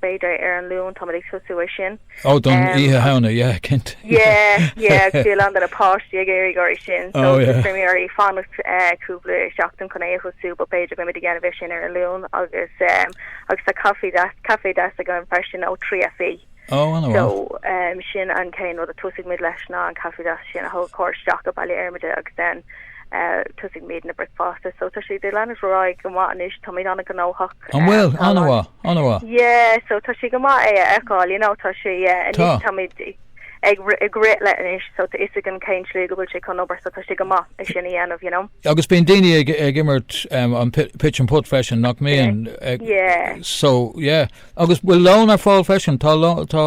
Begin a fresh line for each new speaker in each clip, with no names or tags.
b'fhéidir ar an Luan táimid ag tosú é sin. Ó don
oíche shamhna, yeah, cinnte. Yeah,
yeah, agus bhí a lán de na páistí ag éirí ag an uair sin, so bhí mé ag iarraidh fanacht cúpla seachtain chun é a thosú, but b'fhéidir go mbeimid ag déanamh é sin ar an Luan agus agus tá caife deas, café deas againn freisin ó 3FE. Ó, an-mhaith. So
sin
an chéad rud a tosaigh muid leis ná an caife deas sin a thabhairt isteach i mBaile Formaid agus then tosaigh muid déanamh na bricfeasta so tá sé ag leanúint ar aghaidh go maith anois táimid an-ghnóthach an bhfuil an-mhaith
an-mhaith yeah so tá
sé go maith é a fháil you know tá sé tá mé ag cur leis anois so tá a fhios ag cén slí go bhfuil sé chun obair so tá sé go maith é sin a dhéanamh you know agus bíonn daoine
ag ag imirt um, an pitch and putt freisin nach mbíonn so yeah agus bhfuil lón ar fáil freisin tá lá tá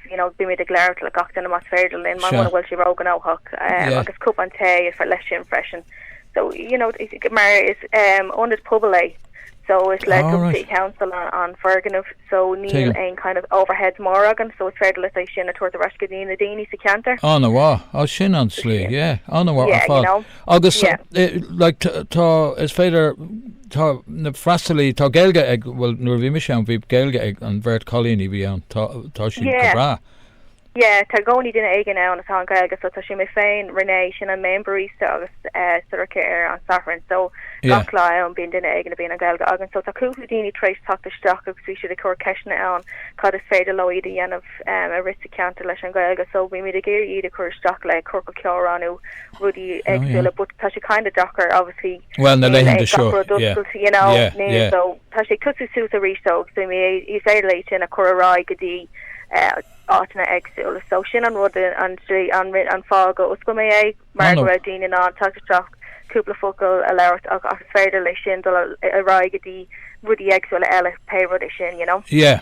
you know, bímid ag labhairt le gach duine más féidir linn muna bhfuil sé ró-ghnóthach agus cupán tae a fháil leis sin freisin so, you know, mar is ionad pobail é so is le Dublin City Council an foirgneamh so níl aon kind of overheads mór againn so is féidir linn é sin a tabhairt ar ais go dtí na daoine sa cheantar. An-mhaith, ó
sin an tslí, yeah, an-mhaith ar fad. Agus, like, tá, is féidir. Tá na freastalaí, tá Gaeilge ag, bhuel nuair a bhí mise ann bhí Gaeilge ag an bheirt chailín a bhí ann, tá, tá siad go Yeah, breá. yeah, tá
i gcónaí duine éigin ann atá an Ghaeilge so tá sé, mé féin, René, sin an main barista agus eh, Sorcha ar an Satharn so Yeah. gach lá ann bíonn duine éigin a bhíonn an Ghaeilge againn so tá cúpla daoine tar éis teacht isteach agus bhí siad ag cur ceisteanna orm cad is féidir leo a dhéanamh em, arís sa cheantar leis an Ghaeilge so bhímid ag iarraidh iad a chur isteach le ciorcal comhrá nó rudaí éagsúla but tá sé kind of deacair obviously Bhuel na laethanta
seo gach rud oscailte you know
yeah yeah so tá sé ag tosú suas arís so so má is féidir linn é sin a chur ar aghaidh go dtí áiteanna éagsúla so sin an rud an an rin an fáth go oscail mé é mar go raibh daoine in ann teacht isteach cúpla focal a labhairt agus is féidir leis sin dul ar aghaidh go dtí rudaí éagsúla eile pé rud é sin you know yeah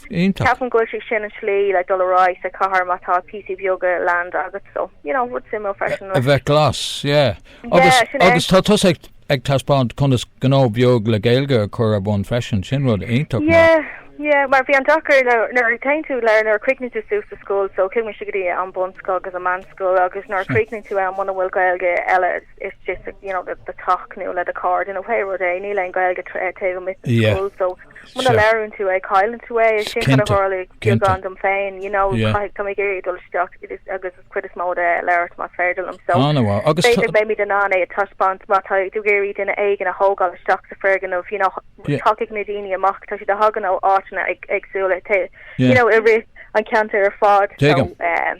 Iontach. Ceapaim go bhfuil sé sin an slí le dul ar aghaidh sa chathair má tá píosaí beaga Gaeilge agat so, you know, rud suimiúil freisin leis. A bheith
glas, yeah. Agus, agus tá tusa ag, ag taispeáint conas gnó beag le Gaeilge a chur ar bun freisin, sin rud iontach maith. Yeah, yeah, mar bhí
an deacair le, nuair a téann tú go, nuair a chríochnaíonn tú suas sa scoil so chuaigh mise go dtí an bunscoil agus an meánscoil agus nuair a chríochnaíonn tú ann muna bhfuil Gaeilge eile is just, you know, do teach nó le do chairde, you know, pé rud é, níl aon Gaeilge taobh amuigh den scoil so. Muna Sure. labhraíonn tú é, cailleann tú é. Is sin cad a Cinnte, tharlaigh cinnte. beagán domsa féin, you know, Yeah. caithfidh, tá mé ag iarraidh dul isteach i dtír agus an cuid is mó de labhairt más féidir liom. So, An-mhaith. Agus b'fhéidir tá- go mbeimid in ann é a taispeáint má tá tú ag iarraidh duine éigin a thógáil isteach sa foirgneamh, you know, Yeah. tagann na daoine amach, tá siad ag teacht ó áiteanna ag- éagsúla, te- Yeah. you know, i rith an ceantar ar fad. So, Tuigim. um,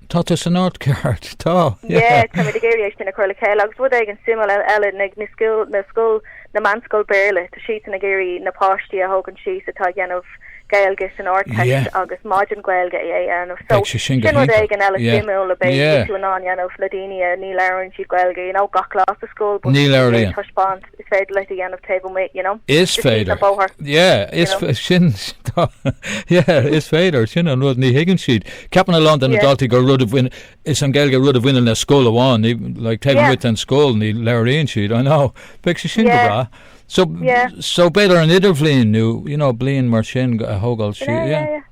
Tá, tá tú san áit ceart, tá. Yeah, táimid ag
iarraidh é sin a chur le chéile agus rud éigin suimiúil eile, na, na scoil, na scoil, na meánscoil Béarla, tá siadsan ag iarraidh na páistí a thógaint síos atá ag déanamh Gaeilge san Ardteist Yeah. agus maidin Gaeilge a dhéanamh. So, Beidh sé sin go sin rud éigin eile Yeah, suimiúil a beidh, yeah. beidh tú in ann a dhéanamh le daoine a, ní labhrann siad Gaeilge, you know, gach lá sa scoil, but Níl aon taispeáint. is
féidir leat é a dhéanamh taobh amuigh you know Is féidir na bóthar yeah is sin yeah is féidir sin an rud ní thuigeann siad ceapann a lán de na daltaí gur rud a bhain, is an Gaeilge rud a bhaineann le scoil amháin ní like taobh amuigh den scoil ní labhraíonn siad I know bheadh sé sin go breá so so b'fhéidir an idirbhliain nó you know bliain mar sin a thógáil siad yeah.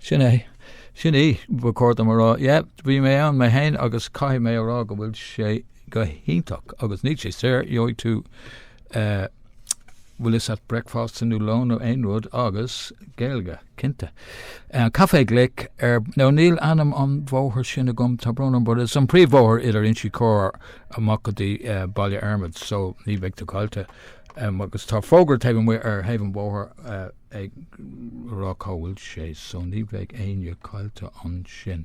Sin é. Sin í. Ba chóir dom a rá, yeah, bhí mé ann mé féin agus caithfidh mé a rá go bhfuil sé go hiontach agus níl sé daor, gheobhaidh tú eh, bhfuil a fhios agat breicfeasta nó lón nó aon rud agus Gaeilge, cinnte. Eh, Caifé Glic ar, nó níl ainm an bhóthair sin agam, tá brón orm, but is an príomhbhóthar idir Inse Chór, amach go dtí eh, Baile Formaid so ní bheidh tú caillte. Em, agus tá fógra taobh amuigh ar thaobh an bhóthair, eh, ag rá cá bhfuil sé so ní bheidh éinne caillte ansin.